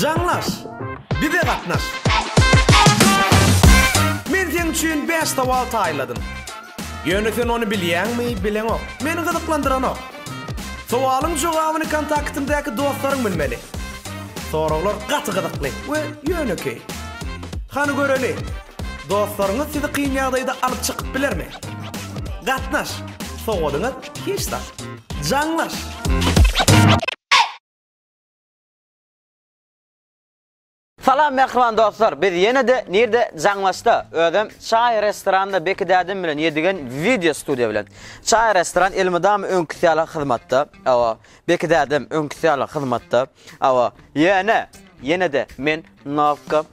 Jaňlaş! Bize gatnaş! Men seň üçin bäş sowal taýladym. Ýöne sen ony bilýäňmi, bileňok. Meni gyzyklandyranok. Sowalyň jogabyny kontaktyňdaky dostlaryň bilmeli. Soraglar gaty gyzykly we ýönekeý. Hany göreli, dostlaryňyz sizi kyn ýagdaýda alyp çykyp bilermi? Gatnaş, sowalyňyz Hiç zat. Jaňlaş. Salam mähriban dostlar biz ýenede nirde jaňlaşda özem çaý restoranda Beki dädem bilen ýedigen wideo studiýa bilen çaý restoran elmydama öňküsi ýaly hyzmatda awa Beki dädem öňküsi ýaly hyzmatda Hawa, ýöne, ýene-de men nowka,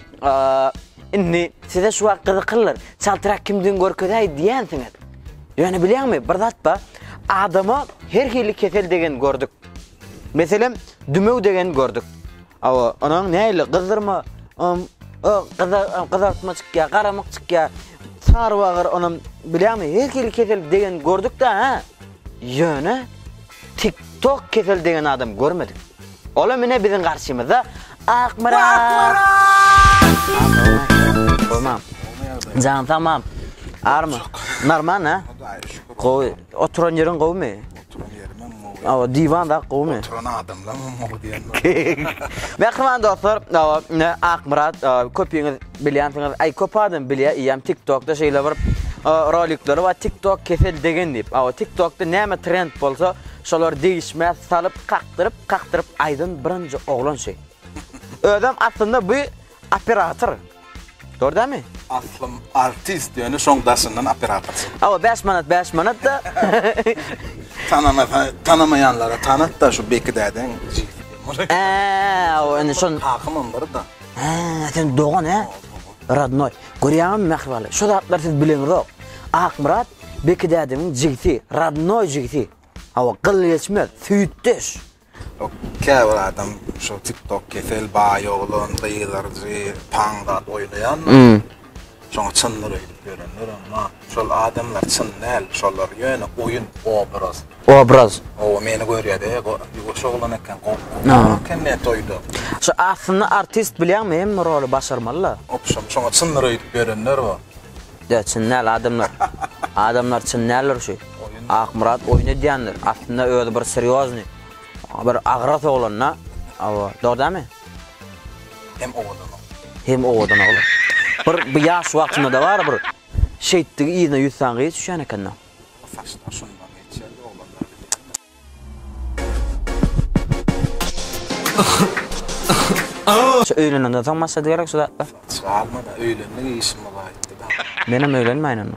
indi size şu wagt gyzyklydyr, çaltrak kimdigini görkezäý diýensiňiz. Ýöne bilýäňmi, bir zat bar, adama her hili kesel degeni gördük. Meselem, dümew degeni gördük. Hawa, onuň nähili, gyzdyrma, gyzartma çykýar, garamyk çykýar, sarybagyr, onuň, bilýäňmi, her hili kesel degeni gördük-dä, hä? Ýöne. Tik tok kesel degen adam görmedik. Olam ine biziň garşymyzda Akmyrat. Akmyrat. Tamam. Jan tamam. Army. Normal ha? Gowy. Oturan ýeriň gowumy? Oturan ýerimem gowy. Awa diwan da gowumy? Oturan adamlar gowy diýen. Mähriban dostlar, awa ine Akmyrat köpüňiz Bilýänsiňiz aý köp adam bilýä iýem tiktokda şeýle bir rolikleri bar tiktok kesel degen diýip awa tiktokda näme trend bolsa şolar degişmä salyp kakdyryp kakdyryp aýdan birinji oglan şi özem aslynda bu operator gördämi aslym artist ýöne şoň daşyndan operator awa bäş manat bäş manatda tanamasa tanamaýanlara tanat da şu bekidädeň jigisi diýen bolar ää awa indi şon kakam onlara da. Haa, sen dogan he? Radnoy, görýäňmi Mähribaly, şu zatlar siz bileňizok. Akmyrat, Beki dädemiň jigsi, radnoý jigsi. Hawa, gyl geçmez, süýtdeş. Käbir adam şu tiktok kesel baý oglan gyzarjy paň zat oýnaýanmy? Şoňa çyndyr öýdüp ýörenler emma şol adamlar çyn däl şolar ýöne oýun obraz. Obraz. Oba meni görýäde ýuwaş oglan eken gowy eken ne toýda. Şu aslynda artist bilýäňmi hemme roly başarmalyda. Opşam şoňa çyndyr öýdüp ýörenler bo. Ýa çyn däl adamlar. Adamlar çyn däldir şu. Akmyrat oýun edýändir aslynda özi bir srýozny bir agras oglan da. Awa dogry dälmi. Hem owadan oglan. Hem owadan oglan. Bir bu ýaş wagtynda-da bar bir şeýtdigi yzyna ýüz sany gyz düşýän eken-de. O saçlar şondan geçýärdi oglanlar bilýän-de. Şu öýlenenden soň başlady gerek şu zatlar. Çalma-da öýlendik işimiz gaýtdy-da. Menem öýlenmäýin onda.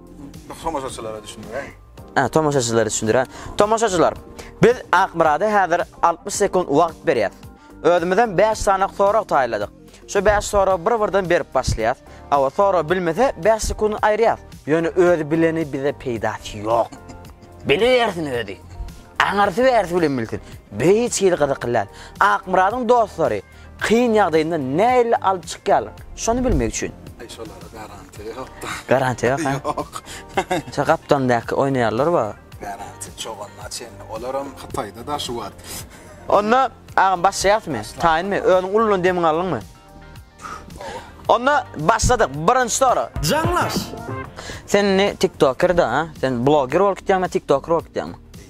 Tomaşaçylara düşündiräý. Hä, tomaşaçylara düşündiräý. Tomaşaçylar, biz Akmyrada häzir 60 sekunt wagt berýäs. Özümizem 5 sany sorag taýýarladyk. Şu 5 soragy bir-birden berip başlaýas. Hawa, sorag bilmese 5 sekunt aýyrýas. Ýöne özi bileni bize peýdasy ýok. Bilibersin özi. Aňyrsy bärsi bilen bilsin. Biz hiç hili gyzykly däl. Akmyradyň dostlary Kyn ýagdaýynda näille alyp çykýarlar? Şony bilmek üçin. Aý şolara garantiýa ýokda. Garantiýa ýok ha? Ýok. Şo gapdalyndaky oýnaýarlar ba? Garantiýa çoganyna çenli. Olaram Hytaýda daşy bar. Onda agam başlaýasmy? Taýynmy? Özüň uludan demiňi aldyňmy? Onda başladyk. Birinji sorag. Jaňlaş! Sen indi tiktoker da ha? Sen bloger bolup gitýäňmi ýa tiktoker bolup gitýäňmi?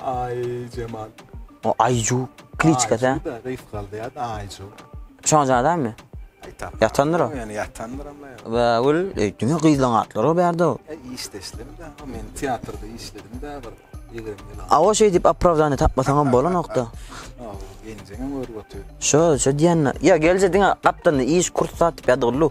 Aý Jemal. O Aýju kliçka da. Aýju da reýs galdy ýa Aýju. Şonja adammy? Ýatandyr o. Ýöne ýatandyr ama. Wa ol öýtdüňe gyzlaň atlary o bärde o. E işde işledim da. Men teatrda işledim da bir. A o şeýdip opravdany tapmasaňam bolanokda. Genjeňem görüp otyr. Şo, şo diýende. Ýa gelje diňe gapdalynda iş kurs satyp ýadygyllu.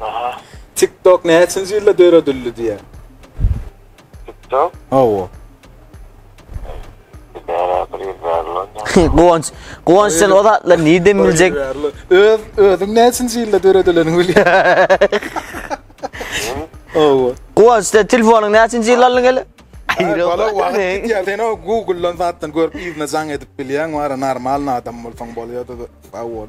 Aha. TikTok näçinji ýylda döredildi diýýän? TikTok? Hawa. Guwanç, Guwanç sen o zatlar nirden biljek? Öz özüň näçinji ýylda döredileniňi bilýän. Hawa. Guwanç sen telefonyň näçinji ýyl aldyň hele? Bala wagt gitýär. Sen o Google-dan zatdan görüp yzyna jaň edip bilýäň, wara normalny adam bolsaň bolýardy. Sag bol.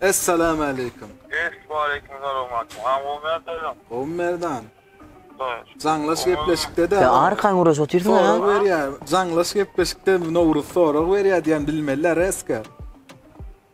Essalamualeýkum. Essalamualeýkum salam aýdym. Aň gowy merdan. Gowy merdan. Jaňlaş gepleşikde-de. Sen arkan guraş otyrsyň ha? Sorag berýär. Jaňlaş gepleşikde Nowruz sorag berýär diýen bilmeli Reska.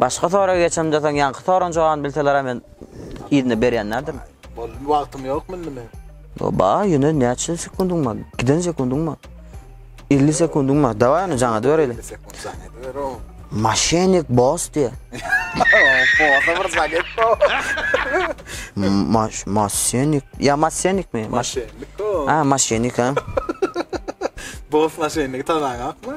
Başga soraga geçemde soň ýaňky soragyň jogabyny bilselerem men yzyna berýänlerdim. Boldy wagtym ýokmy indi men? Yo ba ýöne näçe sekundyň bar? Giden sekundyň bar. 50 sekundyň bar. Daway ony jaňa bereýle. Maşenik boss diýe. Bossa bir zaget bo. Maş maşenik. Ya maşenik mi? Maşenik. Ha maşenik ha. Boss maşenik tananyňmy?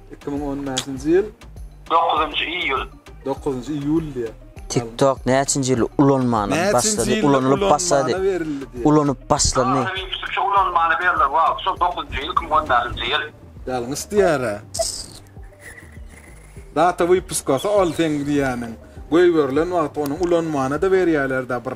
Iki müň on bäşinji ýyl. Dokuzynjy iýul. Dokuzynjy iýul diýýär. TikTok näçinji ýyl ulanmana başlady, ulanylyp başlady, ulanyp başlandy. Türkçe ulanmana berlen wagty şol dokuzynjy ýyl, iki müň on bäşinji ýyl. Ýalňyş diýýär-ä. Data wypuskasy ol seň diýýäniň. Goýberilen wagty onuň ulanmana-da berýärler-dä bir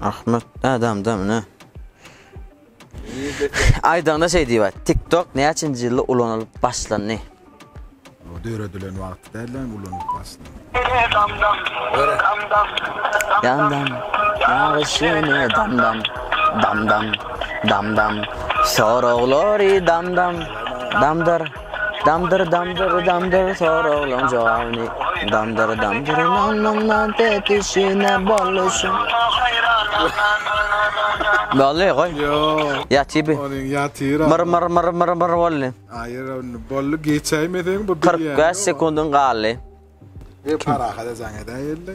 Ahmet adamda mine. Aýdaňda şeý diýip TikTok näçinji ýylda ulanylyp başlandy? O döredilen wagty däl lan ulanyp başlandy. Damdam, damdam, damdam, ýagyş ýene damdam, damdam, damdam, soraglary damdam, damdyr. Damdyr damdyr damdyr soraglaň jogabyny Damdyr damdyr nan nan nan tepişine boluşyň Bolly goý Ýok Ýaty bi Ony ýatyr Myr myr myr myr myr bolly Aýyr ony bolly geçäýmeseň bu bilýän 45 sekundyň galdy. Parahat ejaň edäýeli.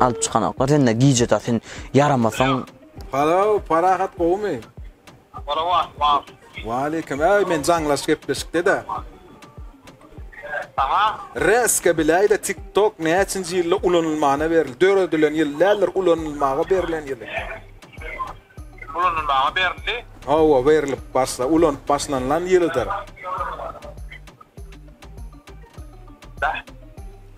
Alyp çykanoklar sende gije da sen ýaramasaň. Halaw parahat gowumy. Salamat bar. Waleýkim äý men jaňlaş gepleşikde de. Saňa. Reska biläýdä tik tok näçinji ýylda ulanylmana berildi döredilen ýyl däldir ulanylmaga berilen ýyly. Ulanylmaga berildi. Hawa berilip başla ulanyp başlanylan ýylydyr. Bäh.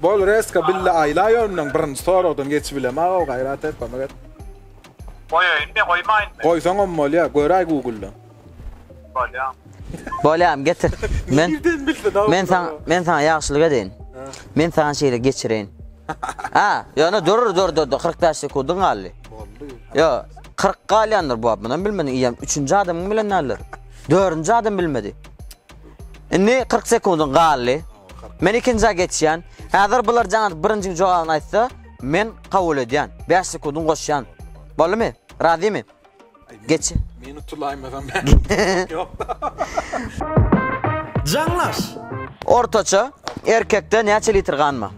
Bol reska bille aýla ýönden birinji soragdan geçibilem agaw gaýrat et kömek et. Goýaýyn be goýmaýyn be. Goýsaňam bolýa göräý googldan. Bolýa. Bolýam getir. Men Nirden bildin agaw. Men saňa men saňa ýagşylyk edeýin. Men saňa şeýle geçireýin. A ýöne dur dur dur dur kyrk bäş sekundyň galdy. Boldy. Ýo kyrk galýandyr bu munam bilmediň iýem üçünji adamyň bilen näler. Dördünji adam bilmedi. Indi kyrk sekundyň galdy. Men ikinjä geçýän. Häzir bular jaňat birinjiň jogabyny aýtsa, men kabul edýän. Bäş sekundyň goşýan. Boldumy? Razymy? Geç. Meni utulaýmasam bäri ýok-da. Jaňlaş! Ortaça, erkekde näçe litr gan bar?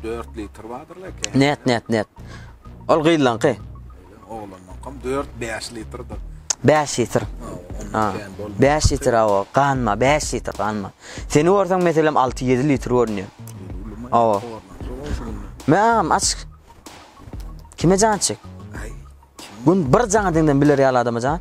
3-4 litr bardyr belki. Net net net. Ol gyzlaňky. Oglanlaňkam 4-5 litrdir. 5 litr. Ha. 5 litr awa, ganma, 5 litr ganma. Seni görseň meselem 6-7 litr görünýär. Awa. Mäm aç. Kime jan çek? Gün bir jana diňden biler ýaly adama jan.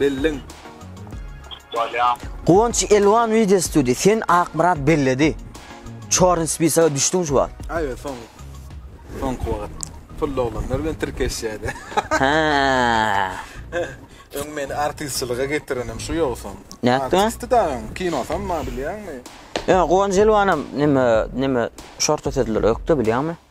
Belleň. Bolýar. Guwanç Elwan Video Studio sen Akmyrat belledi. Çorny spisaga düşdüň şu wagt. Aýe soň. Soňky wagt. Pully oglanlar bilen tirkeşýädi. Hä. Öň meni artistçylyga getirenem şu ýogsam. Nätdiňä? Artisti da öň kinosam bar bilýäňmi? Ýa Guwanç Elwanam neme neme şorta sözleri ökde bilýäňmi?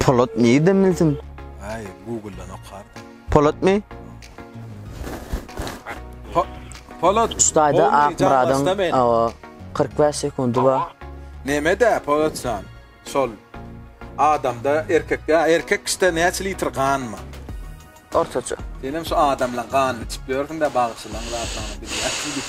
Polat nirden bilsin? Ay Google'dan okardım. Polat mi? Po Polat. Ustayda olmaýan Akmyradyň başda men. awa 45 sekundy bar. Neme de Polat san. Sol. Adamda erkek ya erkek işte näçe litr gan mı? Ortaça. Sen hem şu adamla gan içip ýörsiň de bagşylaň zatlany bilýärsiň diýip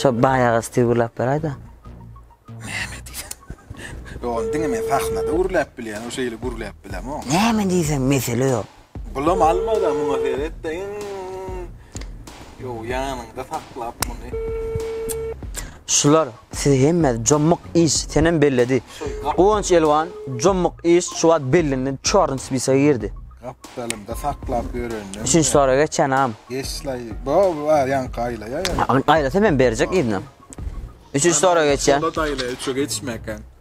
Şo baýagy stil gürläp beraýda. Näme diýsen? Ýogan diňe men sahnada gürläp bilýän, o şeýle gürläp bilemok. Näme diýsen mesele ýok. Bulam almada muňa seretde iň Ýow ýanyňda saklap muny. Şular Siz hemme jomuk iş senem belledi Guwanç Elwan jomuk iş şu wagt bellindi çorny spisa girdi. Gapdalymda saklap ýörendim. Üçünji sora geçenam. Geçlaý. Bo wa ýaňky aýlaýa ýöne. Aýlasa men berjek yzynam. Üçünji sora geçýän. Soda daýlaýa üçe geçmäkäň.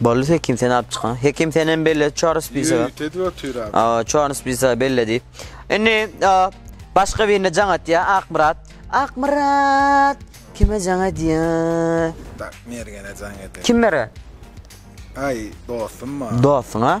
Boldy hekim sen alyp çykan. Hekim sen hem belle Charles Pisa. Ýörik edip otyr abi. Aa, Charles Pisa belle diýip. Indi başga birine jaň atýa Akmyrat. Akmyrat! Kime jaň edýä? Tak, Mergene jaň edýä. Kim Mergen? Aý, dostum bar. Dostuňa?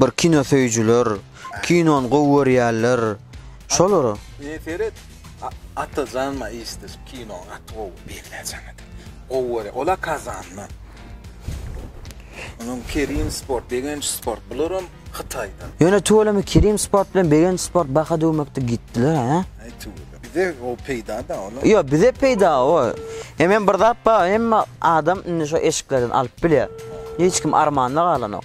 Bir kino söýüjiler, kinony gowy görýärler, şolara. Ine seret, Atajan ma işde şu kino gaty gowy belläjäňe de. Gowy görýär. Ola Kazandan. Onuň Kerim Sport, Begenç Sport bularam Hytaýdan. Ýöne tüweleme Kerim Sport bilen Begenç Sport baha döwmekde gitdiler hä? Aý tüweleme. Bize o peýda da olar. Ýok, bize peýda o. Hem hem bir zat bar, hemme adam indi şu eşiklerden alyp bilýär. Hiç kim armanda galanok.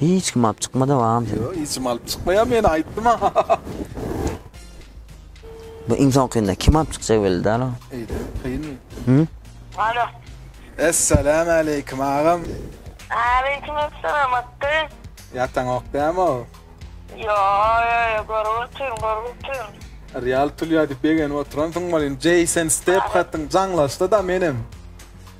Hiç kim alyp çykmady agam seni. Ýok hiç kim alyp çykmaýar meni aýtdym a. Bu iň soňkynda kim alyp çykjak belli däl o. Eýde kyn. Hü. Alo. Essalam aleýkum agam. Aleýkum essalam atdy. Ýataňok dämi o. Ýo ýo ýo görüp otyryn görüp otyryn. Real pul ýa diýip begenip oturansyň welin Jason Stephatyň jaňlaşdy da menem.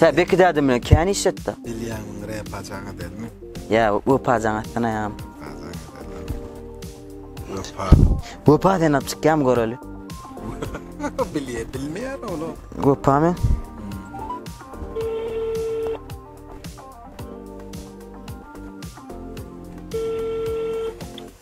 Sen beki dädem bilen kän iş etdi. Bilýäňmi, repa jaň edermi? Ýa, wepa jaň etsin aýam. Wepa. Wepa sen alyp çykýam göreli. Bilýä, bilmeýär ol. Wepa men.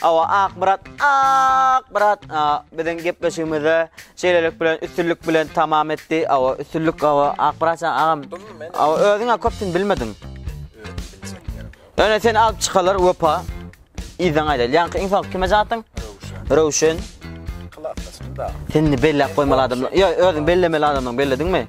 Hawa Akmyrat Akmyrat biziň gepleşigimizi şeýlelik bilen üstünlik bilen tamam etdi. Hawa üstünlik hawa Akmyrat jan agam. Hawa özüňe köpsün bilmediň. Öne sen alyp çykalar wepa. Ýyzdan aýdaýl. Ýaňky iň soň kime jaň Röwşen. Sen belläp goýmaly adam. Ýa özüň bellemeli adamyň bellediňmi?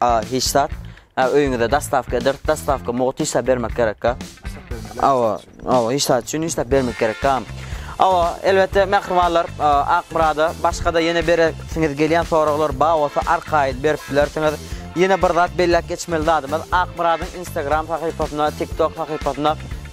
A hiç zat. A öýüňize dostawka ederis, dostawka mugt işläp bermek gerekka. Awa, awa hiç zat üçin işläp bermek gerekka. Awa, elbetde mähribanlar Akmyrada başga-da ýene beresiňiz gelýän soraglar bar bolsa arkaýyn berip bilersiňiz. Ýene bir zat belläp geçmeli zadymyz Akmyradyň Instagram sahypasynda, TikTok sahypasynda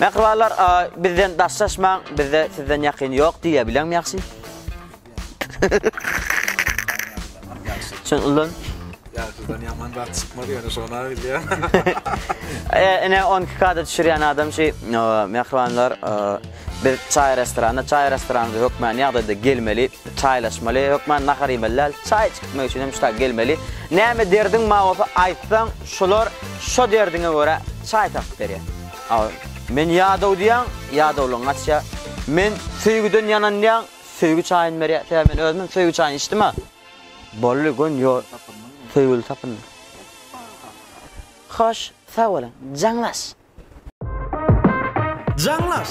Mähribanlar bizden daşlaşmaň, bizde sizden ýakyn ýok diýýä bileňmi ýagşy? Şun ulan. Ýagşydan ýaman zat çykmaz ýöne şony bilýär. Ene 12 kada düşürýän adam şu mähribanlar biz çaý restoranda, çaý restoranymyza hökmany ýagdaýda gelmeli. Çaýlaşmaly, hökman nahar iýmeli däl, çaý içip gitmek üçin hem şu taýy gelmeli. Näme derdiň bar bolsa aýtsaň, şular şo derdiňe görä çaý tapyp berýär. Aw, men ýadaw diýýäň, ýadawlygyň gaçýar. Men söýgüden ýanan diýýäň, söýgi çaýyny berýär. Sebäbi men özümem söýgi çaýyny içdim-ä. Boldy, göni ýol. Söýgüli tapyndy. Hoş, sag boluň. Jaňlaş! Jaňlaş!